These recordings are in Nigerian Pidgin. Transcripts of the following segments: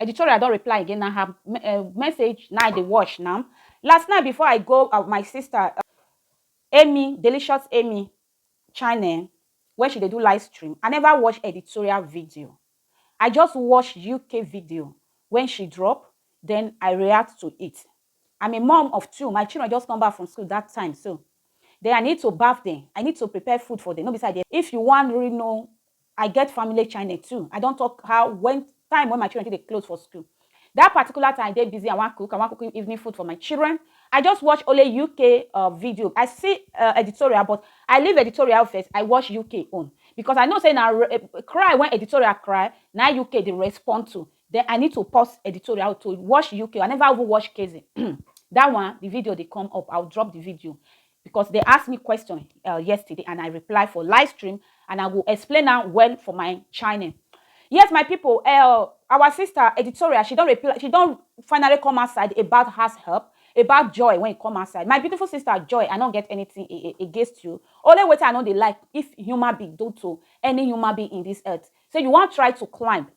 Editorial don reply again na her message na I dey watch now. Last night before I go my sister Amy Delicious Amy channel where she dey do live stream, I never watch editorial video. I just watch UK video when she drop then I react to it. I'm a mom of two, my children just come back from school that time so then I need to baff them, I need to prepare food for them no be say I dey. If you wan really know I get family channel too. I don talk how when time when my children take dey close for school. That particular time I dey busy, I wan cook, I wan cook evening food for my children. I just watch only UK uh, video. I see uh, editorial, but I leave editorial first. I watch UK own because I know say na re- eh, cry when editorial cry, na UK dey respond to. Then I need to pause editorial to watch UK. I never even watch KZ. that one, the video dey come up. I'll drop the video. because dem ask me question uh, yesterday and I reply for live stream and I go explain am well for my channel. Yes, my people, uh, our sister editorial, she don't reply, she don't finally come outside about her help, about joy when it come outside. My beautiful sister Joy, I don't get anything against you. Only what I know they like if human being do to any human being in this earth. So you want try to climb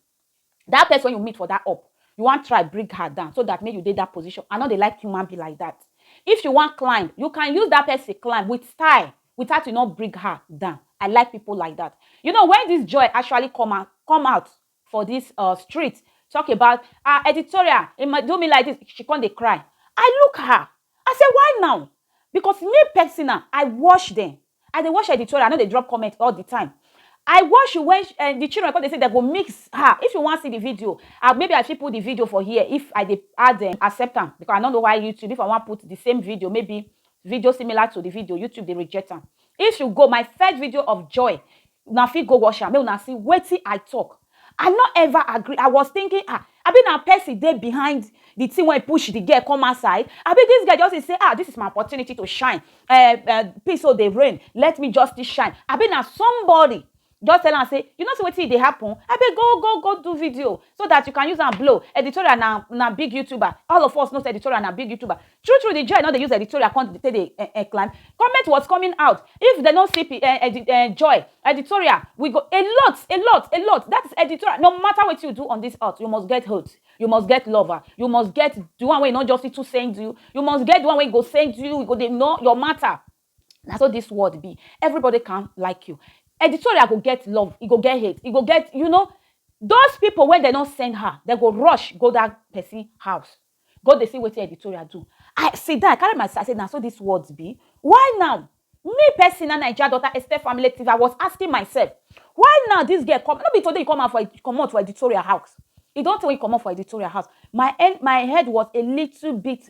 That person you meet for that up, you wan try bring her down so that make you dey that position. I no dey like human be like that. If you wan climb, you can use that person climb with style without you no bring her down. I like people like that. You know, when this joy actually come out, come out for this uh, street, talk about uh, editorial, it might do me like this, she come dey cry. I look her. I say, why now? Because me personal, I watch them. I dey watch editorial, I no dey drop comment all the time. I watch when um the children come dey say dem go mix her. If you wan see the video, I maybe I fit put the video for here if I dey add um accept am because I no know why YouTube if I wan put the same video maybe video similar to the video YouTube dey reject am. If you go my first video of joy Una fit go watch am make una see wetin I talk. I no ever agree, I was thinking ah abi na person dey behind the thing wey push the girl come outside abi this girl just dey say ah this is my opportunity to shine eh eh peace so dey reign let me just still shine abi na somebody just tell am say you no see wetin e dey happen abeg go go go do video so that you can use am blow Editorial na na big youtuber all of us know say Editorial na big youtuber True true the joy no dey use editorial come take dey um um climb comment was coming out if dem no see um edi um joy editorial we go a lot a lot a lot that is editorial no matter wetin you do on this earth you must get hate you must get lover you must get the one wey no just fit to send you you must get the one wey go send you you go dey know your matter na so this world be everybody can like you editorial go get love e go get hate e go get you know those people wey dem no send her dem go rush go that person house go dey see wetin editorial do i see that i carry my sister say na so this world be why now me person na naija daughter esther family tv i was asking myself why now this girl come no be today you come out for comot for editorial house e don tell you comot for editorial house my end my head was a little bit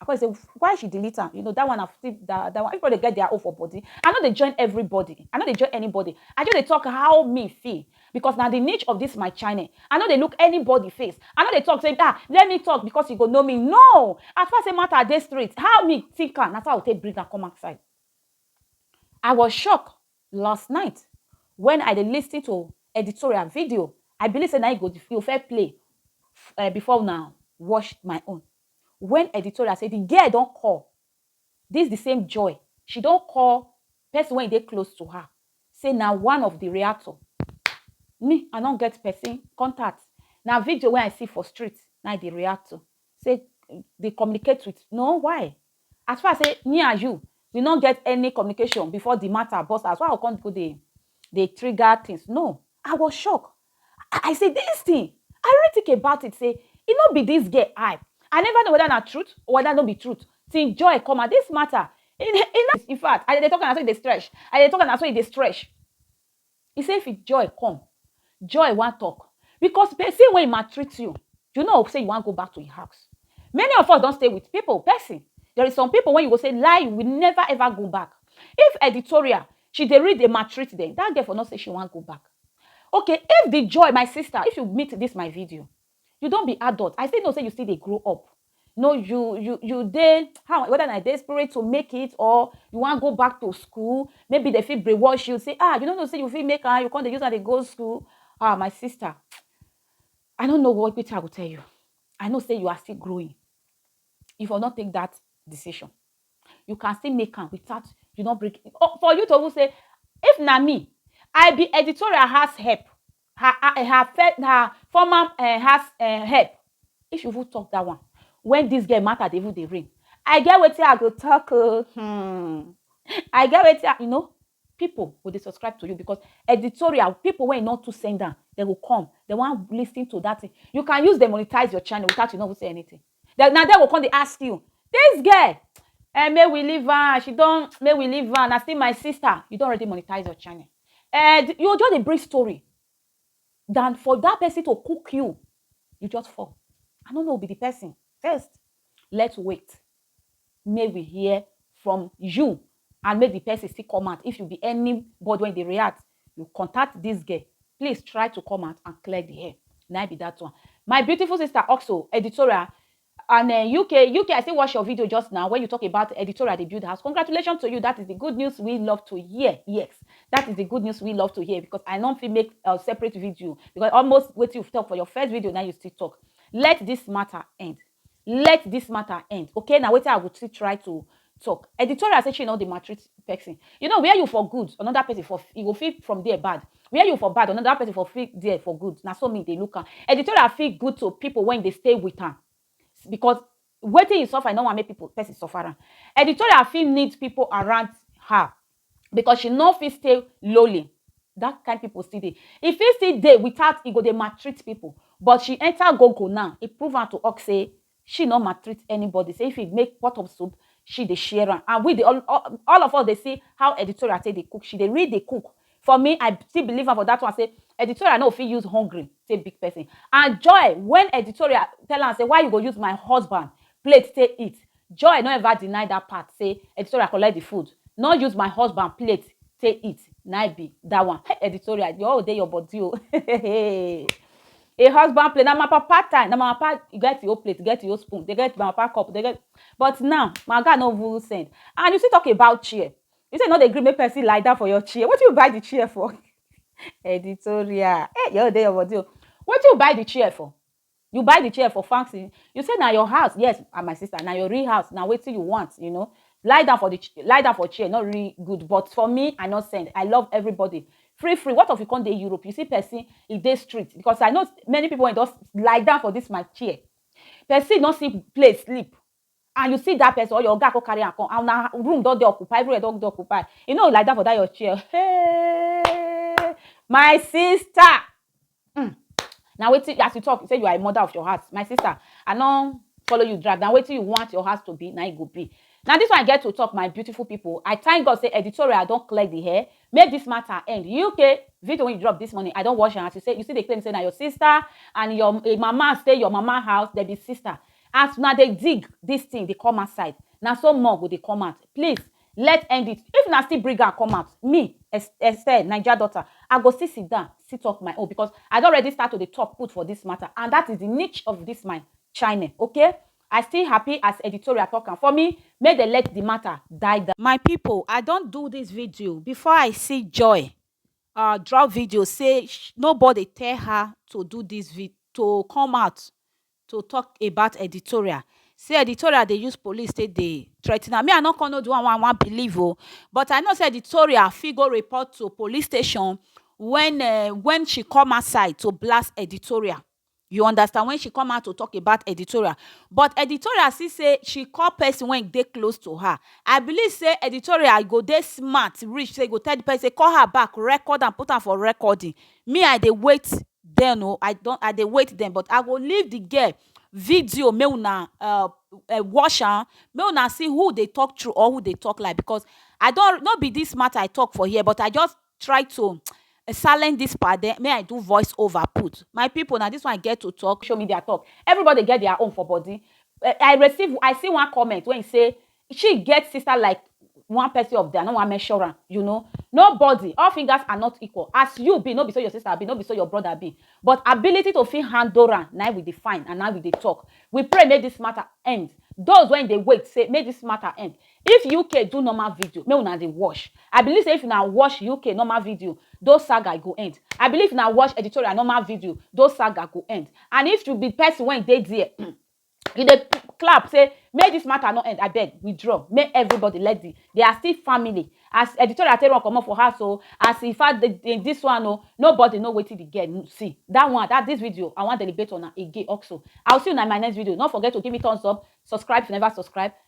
I come dey say why she delete am, you know that one na still that that one everybody get their own for body, I no dey join everybody, I no dey join anybody, I just dey talk how me feel because na the niche of this my channel, I no dey look anybody face, I no dey talk say ah let me talk because you go know me no, as far say matter dey straight how me think am na so I go take bring am come outside. I was shocked last night when I dey listen to editorial video, I believe say na im you go you go first play before una watch my own, When editorial say the girl don call this the same Joy, she don call person wey dey close to her say na one of the reactor. Me, I no get person contact. Na video wey I see for street na I dey react to. Say dey communicate with no why? As far sey me and you we no get any communication before the matter burst out, why I go come go dey dey trigger things? No. I was shocked. I I say dis thing, I really think about it sey e no be dis girl eye. I never know whether na truth or whether no be truth till joy come out. Dis matter, e no, e no, infact, as e dey talk am na so e dey stretch. As e dey talk am na so e dey stretch. He say if joy come, joy wan talk because person wey maltreat you, you no hope say you wan go back to him house. Many of us don stay with people, person, there is some people when you go say lie you will never ever go back. If editorial she dey read dey maltreat them that girl for no say she wan go back. Okay if the joy my sister if you meet this my video You don be adult, I still know say you still dey grow up. No you you you dey how whether na desperate to make it or you wan go back to school, maybe dem fit brainwash you say ah you no know say you fit make am, you come dey use am dey go school. Ah my sister, I no know what wetin I go tell you. I know say you are still growing. You for no take that decision. You can still make am without you no break. For you to even say if na me, I be editorial house help, her her her first her former um house um help if you even talk that one when this girl matter dey even dey rain i get wetin i go talk o hmm i get wetin i you know people go dey subscribe to you because editorial people wey no too send am they go come they wan lis ten to that thing you can use dey monetize your channel without you no even say anything Then na there go come dey ask you this girl um make we leave am she don make we leave am na still my sister you don already monetize your channel um you go just dey bring story than for that person to cook you you just fall I no know be the person first let's wait make we hear from you and make the person still come out if you be any body wey dey react you contact this girl please try to come out and clear the hair na im be that one my beautiful sister also editorial and uh, eh, UK UK I still watch your video just now when you talk about editorial dey build house congratulations to you that is the good news we love to hear yes that is the good news we love to hear because I no fit make a separate video because almost wetin you talk for your first video now you still talk let this matter end let this matter end okay na wetin i go still try to talk editorial say she no dey maltreat person you know where you for good another person for you go feel from there bad where you for bad another person for feel there for good na so me dey look am editorial feel good to people when dey stay with am because wetin e suffer e no wan make people person suffer am editorial fit need people around her because she no fit stay lowly that kind people still dey e fit still dey without e go dey maltreat people but she enter go go now e prove am to us say she no maltreat anybody say if e make pot of soup she dey share am and we dey all, all, all of us dey see how editorial take dey cook she dey really dey cook for me i still believe am for that one say editorial no fit use hungry take big person and joy when editorial tell am say why you go use my husband plate take eat Joy no ever deny that part say editorial collect the food no use my husband plate take eat na im be that one hey editorial your own dey your body o a husband plate na my papa time na my papa e get your plate e get your spoon dey get my papa cup dey get but now my oga no even send and you still talk about chair you say you no dey gree make person lie down for your chair wetin you buy the chair for editorial hey your own dey your body o wetin you buy the chair for You buy the chair for fancy. You say na your house. Yes, ah, my sister, na your real house. Now wait till you want, you know. Lie down for the lie down for chair, not really good. But for me, I not send. I love everybody. Free, free. What of you come to Europe? You see person in this street because I know many people just lie down for this my chair. Person not see place sleep. and you see that person or your oga come carry am come and una room don dey occupy everywhere don dey occupy you no lie down for that your chair hey my sister mm na wetin as you talk you say you are a mother of your heart my sister i no follow you drag na wetin you want your heart to be na e go be na this one i get to talk my beautiful people i thank god say editorial don clear the hair make this matter end uk video wey you drop this morning i don watch am as you say you still dey claim say na your sister and your eh, mama stay your mama house dem be sister As una dey dig this thing dey come outside na so more go dey come out please let end it if una still bring am come out me Estelle naija daughter I go still sit down still talk my own because I don already start to dey talk put for this matter and that is the niche of this my channel okay I still happy as editorial talk am for me make dem let the matter die down. My people I don do this video before I see Joy um drop video say nobody tell her to do this video to come out to talk about editorial say editorial dey use police take dey threaten am me I no come know the one wey I wan believe o but I know say editorial fit go report to police station when um when she come outside to blast editorial you understand when she come out to talk about editorial but editorial see say she call person wey dey close to her I believe say editorial go dey smart reach say e go tell the person say call her back record am put am for recording me I dey wait dem o i don i dey wait dem but i go leave the girl video make una um watch am make una see who dey talk true or who dey talk lie because i don no be this matter i talk for here but i just try to silent this part then make i do voice over put my people na this one i get to talk social media talk everybody get their own for body i receive i see one comment wey he say She get sister like one person of there, no one measure am, you know. Nobody, all fingers are not equal. As you be, no be so your sister be, no be so your brother be. But ability to fit handle am, na we define and now we dey talk. We pray make this matter end. Those when they wait say make this matter end. If UK do normal video, make una dey watch. I believe say if una watch UK normal video, those saga go end. I believe if una watch editorial normal video, those saga go end. And if you be person when dey there, you dey clap say make this matter no end abeg withdraw make everybody let the they are still family as editorial take run comot for house o as in fact the, the, this one o nobody know wetin the girl see that one that this video i wan deliberate on am again also i will see una in my next video no forget to give me thumbs up subscribe if you never subscribe